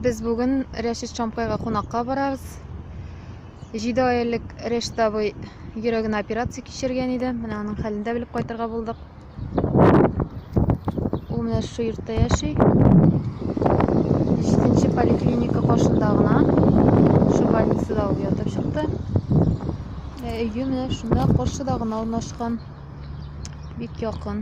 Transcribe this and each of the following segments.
Без бүген Рәшит Чамкайга кунакка барабыз. Җиде ай элек Рәшит абый йөрәгенә операция кичергән иде. Менә аның хәлен дә белеп кайтырга булдык. Ул менә шушы йортта яши. Җиденче поликлиника каршында гына. Шул больницада ул ятып чыкты. Ә өе менә шунда каршыда гына урнашкан. Бик якын.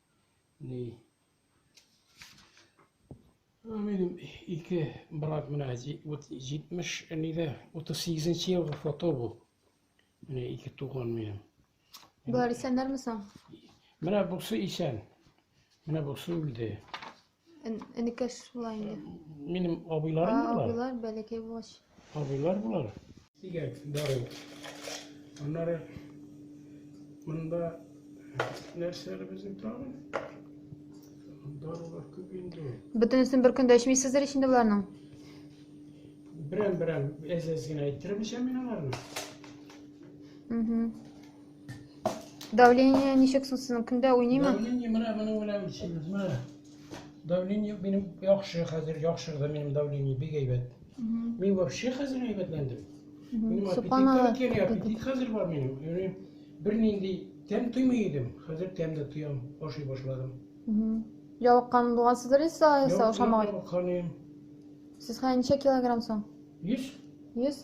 Ни. Минем ике брат менә 70 нидә 38 елгы фото бу. Менә ике туган минем. Болар исәннәрме соң? Менә бусы исән. Менә бусы үлде. Эн- Энекәш була инде. Минем абыйларым А, булар. Абыйлар бәләкәй булгач. Абыйлар булар. Сигәк дару. Аннары монда нәрсәләр безнең тагын? Дарулар күп инде. Бөтенесен бер көндә эчмисездер ич инде боларның. Берәм-берәм әз-әз генә әйттереп эчәм мин аларны. Мгм. Давление ничек соң сезнең көндә уйныймы? Давление менә моның белән исемез менә. Давление минем яхшы хәзер яхшырды минем давление бик әйбәт. Мин вообще хәзер әйбәтләндем. Минем аппетит килә, аппетит хәзер бар минем. Юри бернинди тәм тоймый идем, хәзер тәм дә тоям, ашый башладым. Ялыккан булгансыздыр инде сез ашамаган. Сез хәзер ничә килограмм соң? 100. 100.